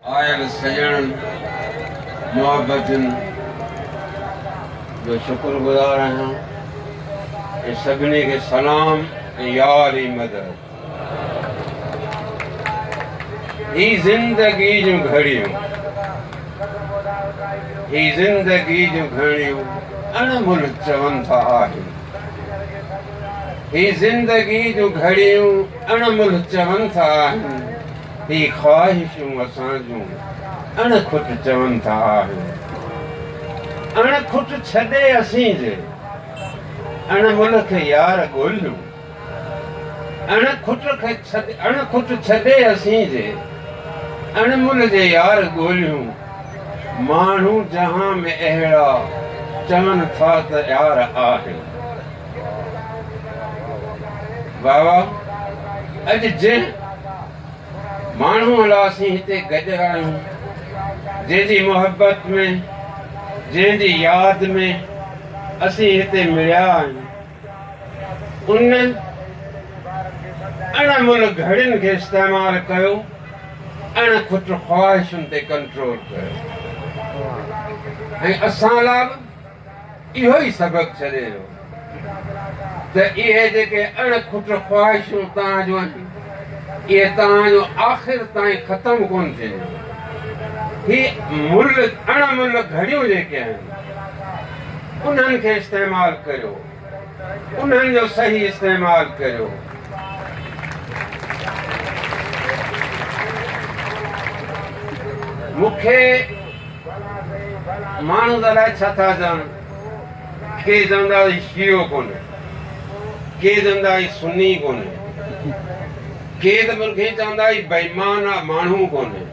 آيل سڄڻن محبتن جو شڪر گذار آهيان ۽ سڀني کي سلام ۽ يار ئي مدد هي زندگي جون گهڙيون هي زندگي جون گهڙيون اڻمل چون ٿا آهن هي زندگي جون گهڙيون اڻمل چون ٿا آهن هي خواهشون اسان جون اڻ کٽ چون ٿا آهن اڻ کٽ ڇڏي اسين جي اڻ ملهه کي يار ڳوليون اڻ کٽ کي ڇڏي اڻ کٽ ڇڏي اسين جي اڻ ملهه جي يار ڳوليون ماڻهو جهان ۾ اهڙا چون ٿا ته يار آهن واھ واھ اڄ جنهن ماڻهو لا اسين هتي گڏ آهيون جنهن جي محبت ۾ جنهن جي ياد ۾ اسين هتي مليا آهيون ان اڻ مل گھڙين کي استعمال ڪيو اڻ کٽ خواهشن تي ڪنٽرول ڪيو ۽ اسان لا اهو ئي سبق ڇڏي ويو ته اهي جيڪي اڻ کٽ خواهشون توهان جون آهن، اهي توهان جون آخر تائين ختم ڪونه ٿينديون. هي ملهه، اڻ ملهه گهڙيون جيڪي آهن، انهن کي استعمال ڪريو. انهن جو صحيح استعمال ڪريو. مون کي ماڻهن الاء ڇا ٿا چون ڪي چوندا هي شيعو ڪونهي ڪي چوندا هي سني ڪونهي ڪي ته مون کي چوندا هي بيمان آ ماڻهو ڪونهي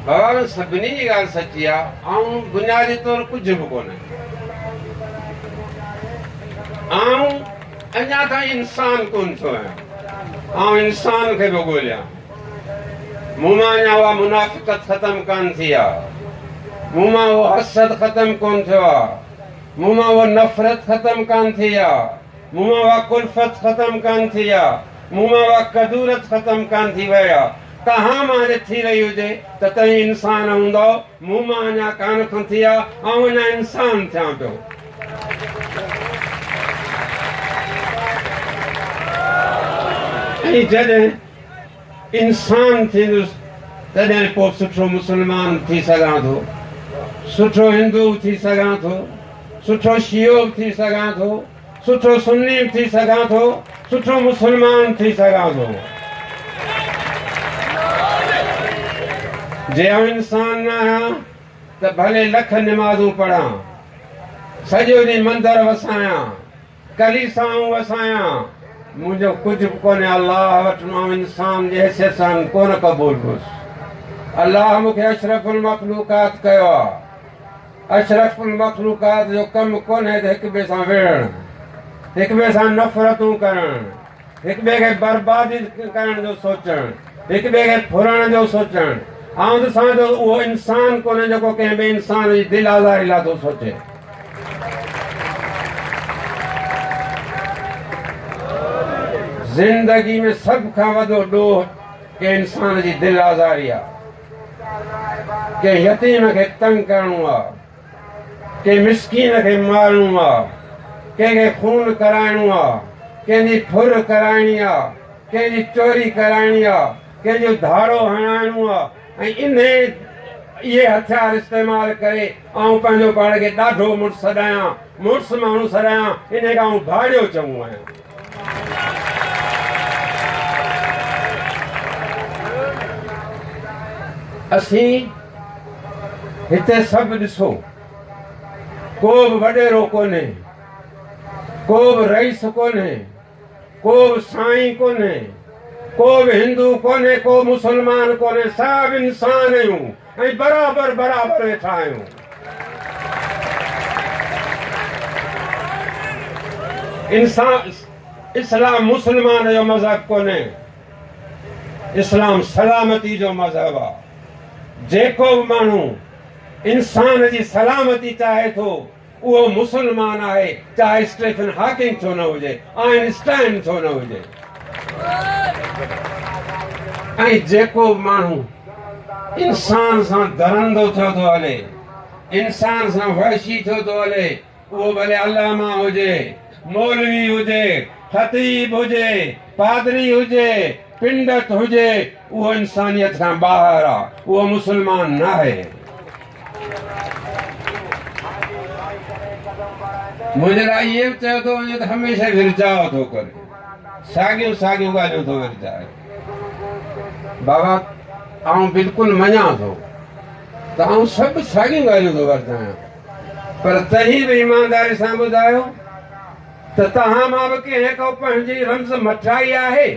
بابا سڀني جي ڳالهه سچي آ آئون بنيادي طور ڪجهه به ڪونهي آئون اڃا تائين انسان ڪون ٿيو آهيان آئون انسان کي پيو ڳوليان مون مان اڃا اها منافقت ختم ڪان ٿي آهي مون مان اهو حسد ختم ڪون ٿيو آهي مون مان اها نفرت ختم ڪان ٿي آهي مون مان اها کلفت ختم ڪان ٿي آهي مون مان اها کدورت ختم ڪان ٿي وئي آهي توهان مان جي ٿي وئي هجي ته تئين انسان هوندو مون مان اڃا ڪانه کنٿي آ، آئون اڃا انسان ٿيان پيو. ۽ جڏهن انسان ٿيندس تڏهن پوء سٺو مسلمان ٿي سگهان ٿو، سٺو هندو به ٿي سگهان ٿو، سٺو شيعو به ٿي سگهان ٿو. سٺو سني به ٿي سگهان ٿو، سٺو مسلمان به ٿي سگهان ٿو. جي آئون انسان نه آهيان ته ڀلي لک نمازون پڙهان، سڄو ڏينهن مندر وسايان، ڪليسائون وسايان، منهنجو ڪجهه به ڪونهي الله وٽ مان انسان جي حيثيت سان ڪونه قبول هوس. الله مون کي اشرف المخلوقات ڪيو آهي. اشرف المخلوقات جو ڪم ڪونهي ته هڪ ٻئي سان وڙهڻ، هڪ ٻئي سان نفرتون ڪرڻ، هڪ ٻئي کي برباد ڪرڻ جو سوچڻ، هڪ ٻئي کي ڦرڻ جو سوچڻ. آئون ته سان جو اهو انسان ڪونهي جيڪو ڪنهن ٻئي انسان جي دل آزاري لاء ٿو سوچي. زندگي ۾ سڀ کان وڏو ڏوهه ڪنهن انسان جي دل آزاري آهي. ڪنهن يتيم کي تنگ ڪرڻو آ، ڪنهن مسڪين کي مارڻو آ، ڪنهن کي خون ڪرائڻو آ، ڪنهن جي ڦر ڪرائڻي آ، ڪنهن جي چوري ڪرائڻي آ، ڪنهن جو ڌاڙو هڻائڻو آ ۽ انهي اهي هٿيار استعمال ڪري آئون پنهنجو پاڻ کي ڏاڍو مڙس سڏايان، مڙس ماڻهو سڏايان، انهي کان آئون ڌاڙيو چئون آهيان. اسين هتي سڀ ڏسو ڪو به وڏيرو ڪونهي ڪو به رئيس ڪونهي ڪو به سائين ڪونهي ڪو به هندو ڪونهي ڪو مسلمان ڪونهي سڀ انسان آهيون ۽ برابر برابر ويٺا آهيون. انسان اسلام مسلمان جو مذهب ڪونهي اسلام سلامتي جو مذهب آ جيڪو به ماڻهو انسان جي سلامتي چاهي ٿو اهو مسلمان آهي چاهي اسٽيفن هاڪنگ ڇو نه هجي، آئن اسٽائن ڇو نه هجي ۽ جيڪو به ماڻهو انسان سان درندو ٿيو ٿو هلي، انسان سان وحشي ٿيو ٿو هلي، اهو ڀلي علامه هجي، مولوي هجي، خطيب هجي، پادري هجي، پنڊت هجي اهو انسانيت کان ٻاهر آ اهو مسلمان ناهي. منهنجي لاء اهي به چيو ٿو وڃي ته هميشه ورجاء ٿو ڪري ساڳيون ساڳيون ڳالهيون ٿو ورجائي بابا آئون بلڪل مڃان ٿو ته آئون سڀ ساڳيون ڳالهيون ٿو ورجايان پر تنهن به ايمانداري سان ٻڌايو ته توهان مان به ڪنهن ڪو پنهنجي رمز مٺائي آهي؟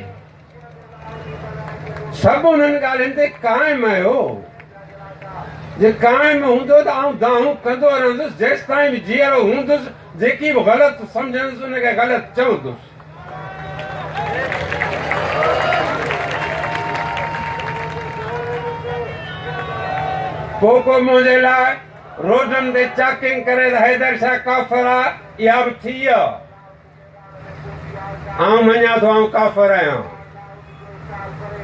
سڀ انهن ڳالهين تي قائم آهيو. جي قائم هوندو ته آئون دانهون ڪندو رهندس جيستائين به جيئرو هوندس، جيڪي به غلط سمجهندس ان کي غلط چوندس. پوء ڪو منهنجي لاء روڊن تي چاڪنگ ڪري ته حيدر شاهه ڪافر آ. اها به ٿي آ. آئون مڃان ٿو آئون ڪافر آهيان.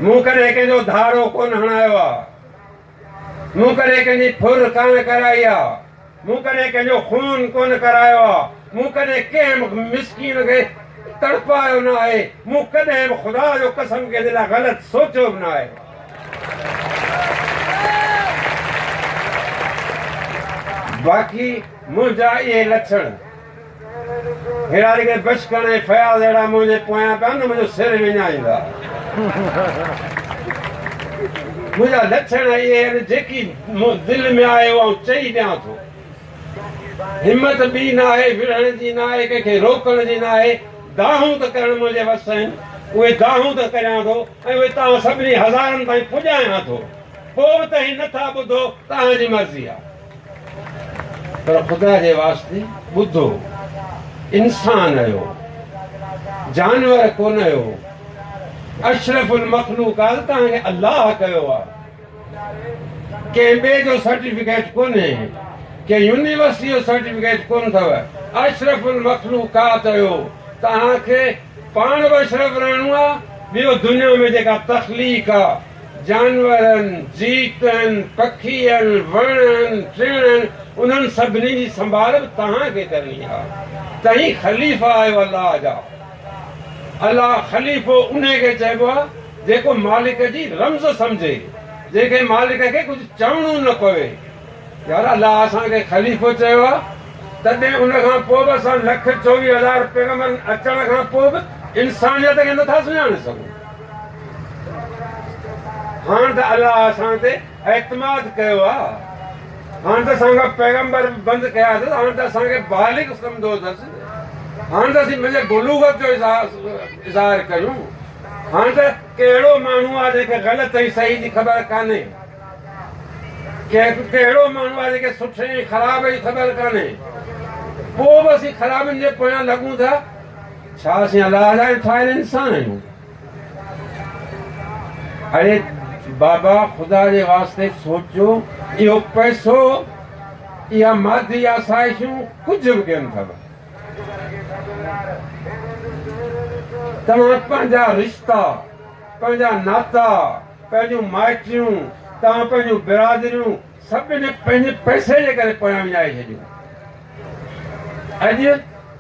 مون ڪڏهن ڪنهن جو ڌارو ڪونه هڻايو آ. مون ڪڏهن ڪنهن جي ڦر ڪانه ڪرائي آ. مون ڪڏهن ڪنهن جو خون ڪونه ڪرايو آ. مون ڪڏهن ڪنهن به مسڪين کي تڙپايو نه آهي. مون ڪڏهن به خدا جو قسم ڪنهن جي لاء غلط سوچيو به نه آهي. باقي منهنجا اهي لڇڻ ههڙا رڳي بشڪڻ ۽ فياض اهڙا منهنجي پويان پيا نه منهنجو سر وڃائيندا. منهنجا لڇڻ اهي آهن جيڪي مون دل ۾ آهي اهو آئون چئي ڏيان ٿو. همت ٻي نه آهي ورهڻ جي نه آهي ڪنهن کي روڪڻ جي نه آهي. دانهون ته ڪرڻ منهنجي وس آهن اهي دانهون ته ڪريان ٿو ۽ اهي توهان سڀني هزارن تائين پڄايان ٿو. پوء به توهين نه ٿا ٻڌو ته اوهان جي مرضي آهي. پر خدا جي واسطي ٻڌو انسان اهو جانور ڪونه اهو اشرف المخلوقات توهان کي الله ڪيو آ ڪنهن ٻي جو سرٽيفڪيٽ ڪونهي ڪنهن يونيورسٽي جو سرٽيفڪيٽ ڪون اٿو اشرف المخلوقات اهو توهان کي پاڻ به اشرف رهڻو آ ٻيو دنيا ۾ جيڪا تخليق آ جانورن، جيتن، پکين، وڻن، ٽڻن انهن سڀني جي سنڀال به توهان کي ڪرڻي آ. توهين خليفا آهيو الله جا. الله خليفو انهي کي چئبو آ جيڪو مالڪ جي رمز سمجهي، جنهن کي مالڪ کي ڪجهه چوڻو نه پوي. يار الله اسان کي خليفو چيو آ تڏهن ان کان پوء به اسان لک چوويهه هزار پيغمبرن اچڻ کان پوء به انسانيت کي نٿا سڃاڻي سگهون. هاڻ ته الله اسان تي اعتماد ڪيو آ هاڻ ته اسان کان پيغمبر به بند ڪيا اٿس هاڻ ته اسان کي بالغ سمجهندو اٿس هاڻ ته اسين پنهنجي بلوغت جو اظهار ڪريون هاڻ ته ڪهڙو ماڻهو آ جنهن کي غلط ۽ صحيح جي خبر ڪانهي ڪهڙو ماڻهو آ جنهن کي سٺي ۽ خراب جي خبر ڪانهي پوء به اسين خرابين جي پويان لڳون ٿا ڇا اسين الله لاء ٺاهيل انسان آهيون؟ اڙي بابا خدا جي واسطي سوچو اهو پئسو اها مادي آسائشون ڪجهه به ڪين اٿو. توهان پنهنجا رشتا پنهنجا ناتا پنهنجون مائٽيون توهان پنهنجون برادريون سڀني پنهنجي پئسي جي ڪري پويان وڃائي ڇڏيون. اڄ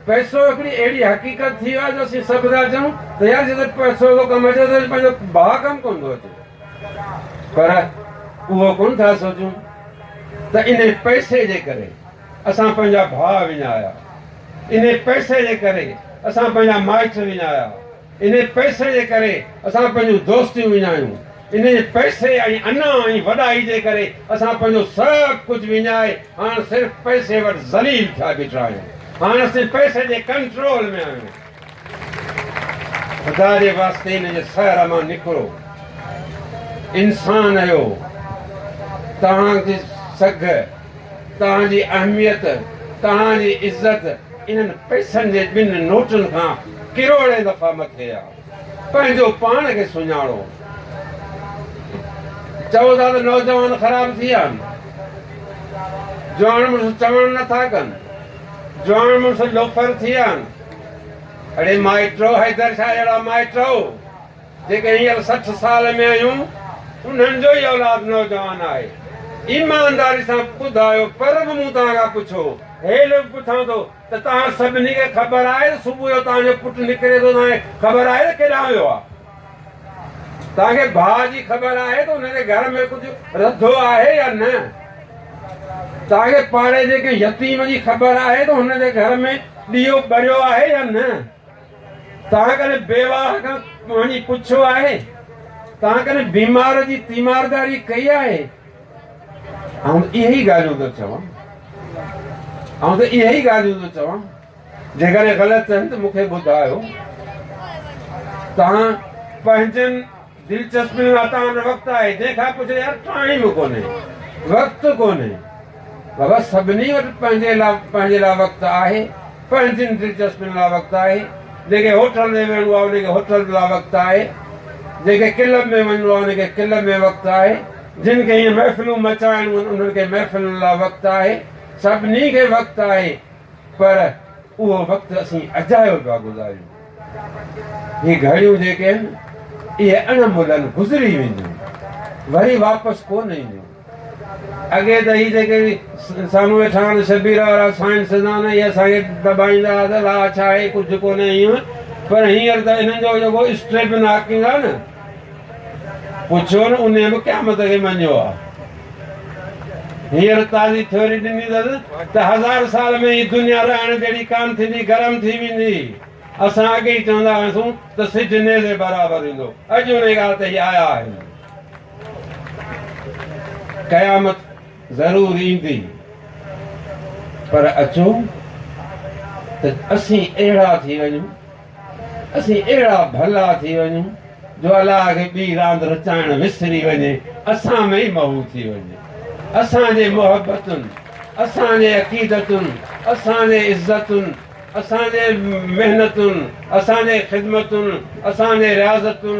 پئسو هڪڙي اهڙي حقيقت ٿي ويو آهي جو اسين سڀ ٿا چئون ته يار جڏهن پئسو ٿو ڪم اچي ته پنهنجو ڀاء ڪم ڪونه ٿو اچي پر اهو ڪونه ٿا سوچون ته ان پئسي جي ڪري اسان پنهنجا ڀاء وڃايا ان پئسي جي ڪري اسان پنهنجا مائٽ وڃايا انهيء پئسي جي ڪري اسان پنهنجون دوستيون وڃايون. انهيء پئسي ۽ انا ۽ وڏائي جي ڪري اسان پنهنجو سڀ ڪجهه وڃائي هاڻ صرف پئسي وٽ ذليل ٿيا بيٺا آهيون. هاڻ اسين پئسي جي ڪنٽرول ۾ آهيون. خدا جي واسطي ان جي سحر مان نڪرو. انسان آهيو. توهان جي سگهه. توهان جي اهميت، توهان جي عزت انهن پئسن جي ٻن نوٽن کان ڪروڙين دفعا مٿي آ. پنهنجو پاڻ کي سڃاڻو. چئو ٿا ته نوجوان خراب ٿي ويا آهن. جوان مڙس چوڻ نه ٿا ڪن. جوان مڙس لوفر ٿي ويا آهن. اڙي مائٽو حيدر شاهه جهڙا مائٽ جيڪي هينئر سٺ سال ۾ آهيون، انهن جو ئي اولاد نوجوان آهي. ايمانداري سان ٻڌايو، پر به مون توهان کان پڇو، هي لوڪ پڇان ٿو ته توهان سڀني کي خبر آهي ته صبح جو توهان جو پٽ نڪري ٿو، توهان کي خبر آهي ته ڪيڏانهن ويو آهي؟ توهان کي ڀاء جي خبر آهي ته ان جي گهر ۾ ڪجهه رڌو آهي يا نه؟ توهان کي پاڙي جي ڪنهن يتيم جي خبر آهي ته هن جي گهر ۾ ڏيئو ٻريو آهي يا نه؟ تنهن ڪري بيواهه کان پاڻي پڇيو آهي، تنهن ڪري بيمار جي تيمارداري ڪئي آهي. آئون ته اهي ئي ڳالهيون ٿو چوان، آئون ته اهي ئي ڳالهيون ٿو چوان، جيڪڏهن غلط آهن ته مون کي ٻڌايو. توهان پنهنجن دلچسپي واري تان وقت آهي جنهن کان پڇي يار ٽائيم ڪونهي وقت ڪونهي بابا سڀني وٽ پنهنجي لا پنهنجي لا وقت آهي پنهنجين دلچسپين لا وقت آهي جنهن کي هوٽل ۾ ويهڻو آهي ان کي هوٽل لا وقت آهي جنهن کي ڪلب ۾ وڃڻو آهي ان کي ڪلب ۾ وقت آهي جن کي هي محفلون مچائڻيون آهن انهن کي محفلن لا وقت آهي سڀني کي وقت آهي پر اهو وقت اسين اجايو پيا گذاريون. هي گهڙيون جيڪي آهن، اهي اڻ ملهن گذري وينديون، وري واپس ڪو نه اينديون. اڳي ته هي جيڪي سامهون ويٺا آهن شبير وارا سائنسدان اهي اسان کي دٻائيندا ته لا ڇا اهي ڪجهه ڪونه ايون پر هينئر ته انهن جو جيڪو اسٽريپ ناڪنگ آهي نه پڇو نه انهي به قيامت کي مڃيو آهي. هينئر تازي ٿيوري ڏني اٿس ته هزار سال ۾ هي دنيا رهڻ جهڙي ڪانه ٿيندي، گرم ٿي ويندي. اسان اڳي ئي چوندا هئاسون ته سج نيزي برابر ايندو، اڄ انهي ڳالهه تي هي آيا آهن. قيامت ضرور ايندي پر اچو ته اسين اهڙا ٿي وڃون اسين اهڙا ڀلا ٿي وڃون جو الله کي ٻي راند رچائڻ وسري وڃي اسان ۾ ئي محو ٿي وڃي. اسان جي محبتن، اسان جي عقيدتن، اسان جي عزتن، اسان جي محنتن، اسان جي خدمتن، اسان جي رياضتن،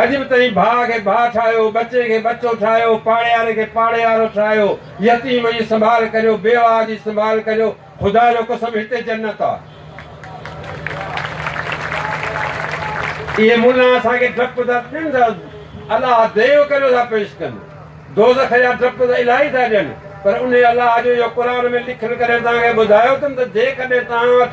اڄ به تنهن ڀاء کي ڀاء ٺاهيو، ٻچي کي ٻچو ٺاهيو، پاڙيهاري کي پاڙيهارو ٺاهيو، يتيم جي سنڀال ڪريو، بيواهه جي سنڀال ڪريو، خدا جو قسم هتي جنت آ. اهي ملان اسان کي ڊپ ٿا ڏين ته الله ديو ڪريو ٿا پيش ڪن، دوزخ جا ڊپ ته الائي ٿا ڏين، پر انهي الله جو جو قرآن ۾ لکيل ڪڏهن توهان کي ٻڌايو اٿم ته جيڪڏهن توهان وٽ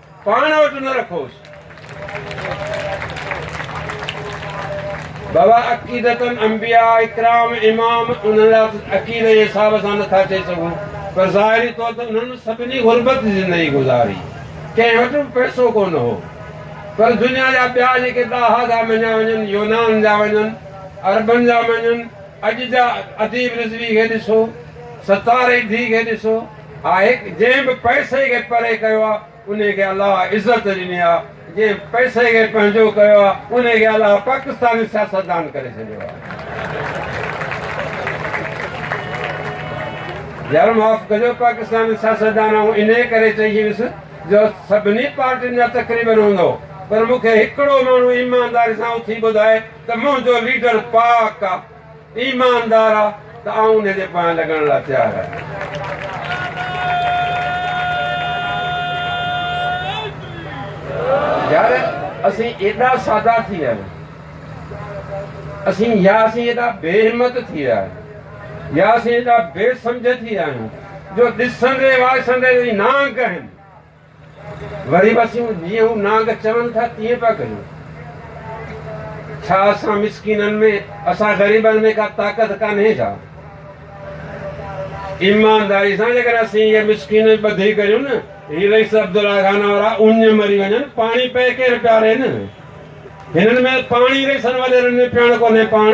پاڻ وٽ نه رکوس. بابا عقيدتن انبياء اڪرام امام انهن لاء عقيدي جي حساب سان نٿا چئي سگهون پر ظاهري طور ته انهن سڀني غربت جي زندگي گذاري ڪنهن وٽ به پئسو ڪو نه هو پر دنيا جا ٻيا جيڪي ڏاها ٿا مڃيا وڃن يونان جا وڃن عربن جا مڃن اڄ جا اديب رضوي کي ڏسو ستاري ڌي کي ڏسو آهي جنهن به پئسي کي پري ڪيو آهي انهي کي الله عزت ڏني آهي جنهن پئسي کي پنهنجو ڪيو آهي انهي کي الله پاڪستاني سياستدان ڪري ڇڏيو آهي يار معاف ڪجو پاڪستاني سياستدان آئون انهي ڪري چئي ڇڏيس جو سڀني پارٽين جا تقريبن هوندو پر مون کي هڪڙو ماڻهو ايمانداري سان اٿي ٻڌائي ته منهنجو ليڊر پاڪ آهي ايماندار آ ته آئون ان جي پويان لڳڻ لاء تيار آهيان. يار اسين ايڏا سادا ٿي ويا آهيون. اسين يا اسين ايڏا بي همت ٿي ويا آهيون. يا اسين ايڏا بي سمجهه ٿي ويا آهيون جو ڏسندي واسندي جي نانگ ڪهن. وري به اسين جيئن هو نانگ چون ٿا تيئن پيا ڪريون. ڇا اسان مسڪينن ۾ اسان غريبن ۾ ڪا طاقت ڪانهي ڇا؟ ايمانداري سان جيڪڏهن اسين اهي مسڪين ۽ ٻڌي ڪريون نه هي رئيس عبدالله خان وارا اڃ مري وڃن پاڻي پئي ڪير پيارين؟ هنن ۾ پاڻي رئيسن وڏيرن ۾ پيڻ ڪونهي پاڻ.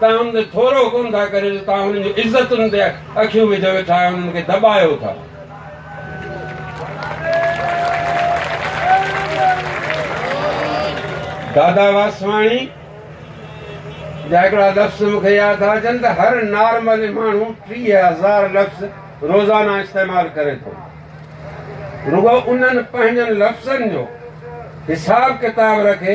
توهان هن تي ٿورو ڪونه ٿا ڪريو جو توهان هنن جون عزتن تي اکيون وجهيو ويٺا آهيو هنن کي دٻايو ٿا. دادا واسواڻي جا هڪڙا لفظ مون کي ياد ٿا اچن ته هر نارمل ماڻهو ٽيهه هزار لفظ روزانه استعمال ڪري ٿو رڳو انهن پنهنجن لفظن جو حساب ڪتاب رکي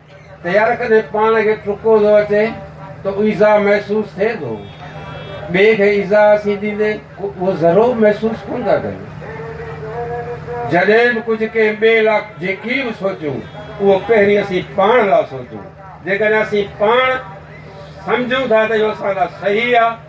تيار ڪندي پاڻ کي ٽرڪو ٿو اچي ته ايذاء محسوس ٿئي ٿو ٻئي کي ايذاء سي ڏيندي اهو ضرور محسوس ڪون ٿا ڪن جڏهن به ڪجهه ڪنهن ٻئي لاء جيڪي به سوچون اهو پهرين اسين پاڻ لاء سوچون جيڪڏهن اسين پاڻ سمجهون ٿا ته اهو اسان لاء صحيح آهي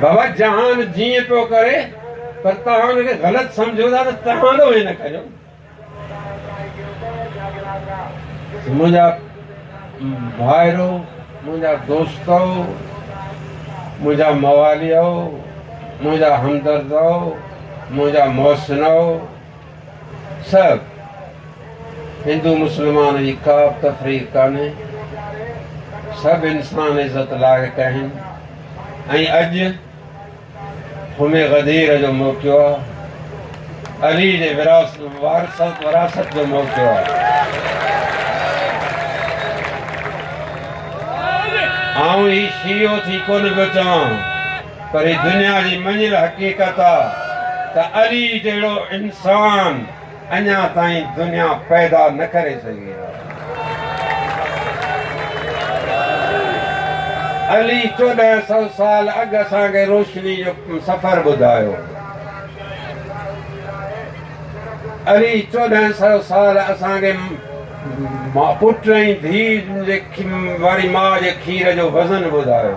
بابا جهان جيئن پيو ڪري پر توهان ان کي غلط سمجهو ٿا ته توهان ڏوهين نه ڪريو منهنجا ڀائرو منهنجا دوستو منهنجا مواليو منهنجا همدردو منهنجا محسنو صاحب هندو مسلمان جي ڪا به تفريق ڪانهي سڀ انسان عزت لائق آهن ۽ اڄ همي غدير جو موقعو آهي علي جي وراثت وراثت جو موقعو آهي آئون هي شيعو ٿي ڪونه پيو چوان پر هي دنيا جي مڃيل حقيقت آ ته علي جهڙو انسان اڃا تائين دنيا پيدا نه ڪري سگهي آ. علي چوڏهن سو سال اڳ اسان کي روشني جو سفر ٻڌايو. علي چوڏهن سو سال اسان کي پٽ ۽ ڌيء واري ماء جي کير جو وزن ٻڌايو.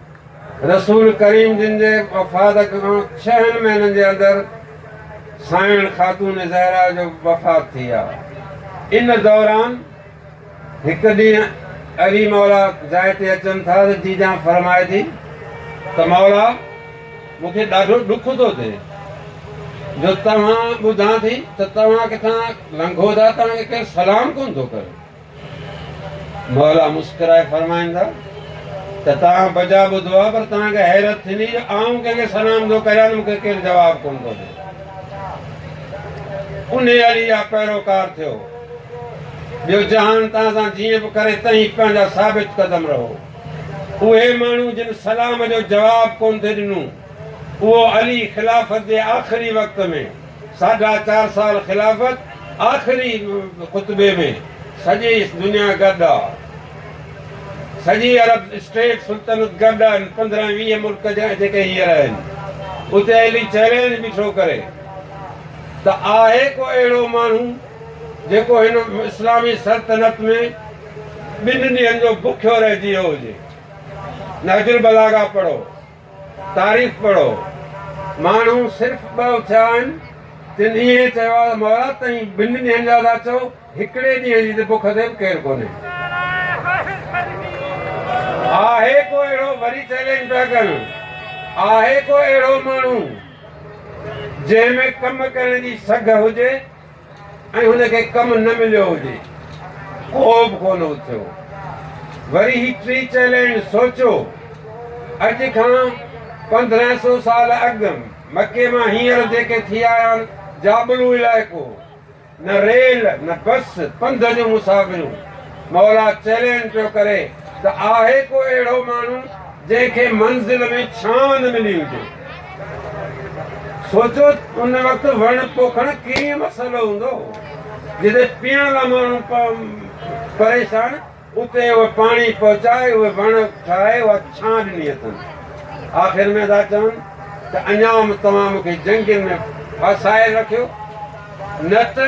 رسول ڪريم جن جي وفات کان ڇهن مهينن جي اندر سائڻ خاتون زهرا جو وفات ٿي آ. ان دوران هڪ ڏينهن علي مولا جاء تي اچن ٿا ته جيجان فرمائي ٿي ته مولا مون کي ڏاڍو ڏک ٿو ٿئي جو توهان ٻڌان ٿي ته توهان ڪٿان لنگهو ٿا توهان کي ڪير سلام ڪونه ٿو ڪري. موليٰ مسڪرائي فرمائن ٿا ته توهان بجا ٻڌو آهي پر توهان کي حيرت ٿيندي جو آئون ڪنهن کي سلام ٿو ڪريان ته مون کي ڪير جواب ڪونه ٿو ڏي. انهي علي جا پيروڪار ٿيو. ٻيو جهان توهان سان جيئن به ڪري تئين پنهنجا ثابت قدم رهو. اهي ماڻهو جن سلام جو جواب ڪونه ٿي ڏنو اهو علي خلافت جي آخري وقت ۾ ساڍا چار سال خلافت آخري خطبي ۾ سڄي دنيا گڏ آ سڄي عرب اسٽيٽ سلطنت گڏ آهن پندرهن ويهه ملڪ جا جيڪي هيئر آهن اتي علي چئلينج بيٺو ڪري ته آهي ڪو اهڙو ماڻهو جيڪو هن اسلامي سلطنت ۾ ٻن ڏينهن جو بکيو رهجي ويو هجي نهج البلاغه پڙهو. تاريخ پڙهو، ماڻهو صرف ٻه اٿيا آهن، تن ائين چيو آهي ته مئورات تائين ٻن ڏينهن جا ٿا چئو، هڪڙي ڏينهن جي ته بک تي به ڪير ڪونهي. آهي ڪو اهڙو، وري چئلينج پيا ڪن، آهي ڪو اهڙو ماڻهو جنهن ۾ ڪم ڪرڻ جي سگهه هجي؟ ۽ هن کي ڪم نه مليو هجي. ڪو به ڪونه اٿيو. وري هي ٽي چيلنڊ سوچيو. اڄ کان پندرهن سو سال اڳ مڪي مان هينئر جيڪي ٿي آيا آهن، جابلو علائقو، نه ريل، نه بس، پنڌ جون مسافريون. مولا چيلنڊ پيو ڪري ته آهي ڪو اهڙو ماڻهو؟ جنهن کي منزل ۾ ڇانو نه ملي هجي. سوچو ته ان وقت وڻ پوکڻ ڪيئن مسئلو هوندو هو. جتي پيئڻ لاء ماڻهو پريشان، اتي اهي پاڻي پهچائي، اهي وڻ ٺاهي، اها ڇانو ڏني اٿن. آخر ۾ ٿا چون ته اڃا توهان مون کي جنگين ۾ ڦاسائي رکيو، نه ته.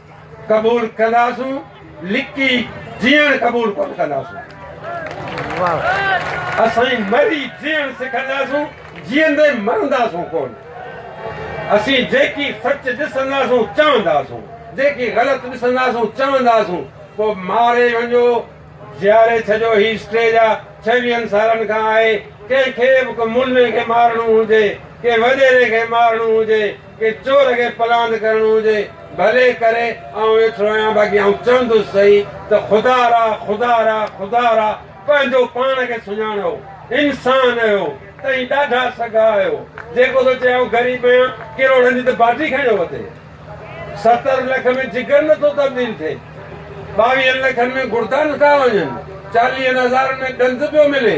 قبول ڪنداسون لڪي جيئڻ قبول ڪونه ڪنداسون اسين مري جيئڻ سکنداسون جيئندي مرنداسون ڪونه اسين جيڪي سچ ڏسنداسون چونداسون جيڪي غلط ڏسنداسون چونداسون پوء ماري وڃو جياري ڇڏيو هي اسٽيج آ ڇويهن سالن کان آهي ڪنهن کي به ڪو ملي کي مارڻو هجي ڪنهن وڏيري کي مارڻو هجي ڪي چور کي پلاند ڪرڻو هجي ڀلي ڪري آئون ويٺو آهيان باقي آئون چوندس صحيح ته خدا را خدا را خدا را پنهنجو پاڻ کي سڃاڻو انسان اهو تئين ڏاڍا سگها آهيو جيڪو ٿو چئي آئون غريب آهيان ڪروڙن جي ته باٽي کڻيو وتي ستر لک ۾ جگر نٿو تبديل ٿئي ٻاويهن لکن ۾ گڙدا نٿا وڃن چاليهن هزارن ۾ ڏند پيو ملي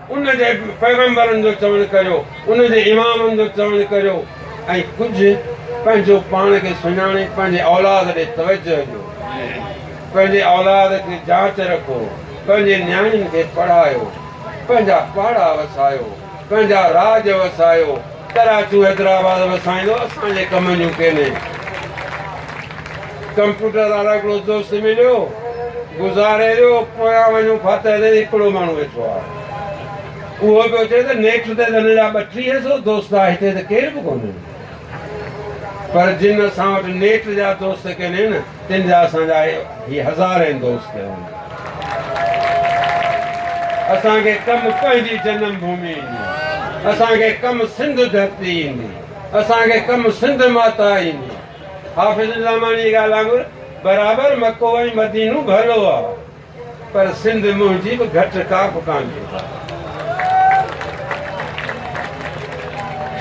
ان جي پيغمبرن جو چوڻ ڪريو، ان جي امامن جو چوڻ ڪريو ۽ ڪجهه پنهنجو پاڻ کي سڃاڻي پنهنجي اولاد ڏي توجهه ڏيو. پنهنجي اولاد کي جاچ رکو، پنهنجي نياڻين کي پڙهايو، پنهنجا پاڙا وسايو، پنهنجا راڄ وسايو، ڪراچو حيدرآباد وسائيندو اسان جي ڪم جون ڪينهن ڪمپيوٽر وارو هڪڙو دوست مليو گذاري ويو پويان وڃون ڦاتح تي هڪڙو ماڻهو ويٺو آهي اهو پيو چئي ته نيٺ تي هن جا ٻٽيهه سو دوست آهي هتي ته ڪير به ڪونهي پر جن اسان وٽ نيٺ جا دوست ڪينهن تن جا اسان جا هي هزارين دوست هون. اسان کي ڪم پنهنجي جنم ڀومي ايندي. اسان کي ڪم سنڌ ڌرتي ايندي. اسان کي ڪم سنڌ ماتا ايندي. حافظ الرحماني جي ڳالهه وانگر برابر مڪو ۽ مدينو ڀلو آ. پر سنڌ منهنجي به گهٽ ڪا به ڪانهي.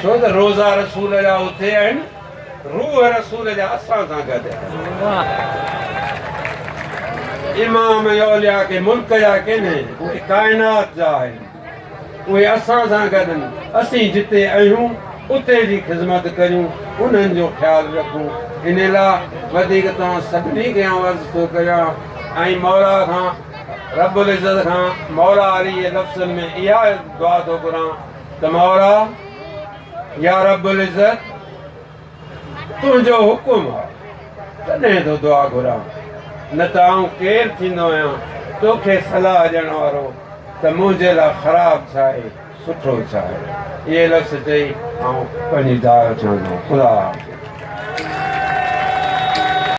ڇو ته روزا رسول جا اتي آهن، روح رسول جا اسان سان گڏ آهن. امام اولياء ڪي ملڪ جا ڪين، اهي ڪائنات جا آهن. اهي اسان سان گڏن، اسين جتي اهيون اتي جي خذمت ڪريون، انهن جو خيال رکون، ان لا وڌيڪ توهان سڀني کي آئون عرض ٿو ڪريان ۽ مولا کان رب العزت کان مولا علي جي لفظن ۾ اها دعا ٿو گهران ته مولا يا رب العزت! تنهنجو حڪم آ، تڏهن ٿو دعا گهران، نه ته آئون ڪير ٿيندو آهيان توکي صلاح ڏيڻ وارو، ته منهنجي لاء خراب ڇا آهي سٺو ڇا آهي. اهي لفظ چئي آئون پنهنجي جاء اٿيو ٿو. خدا حافظ.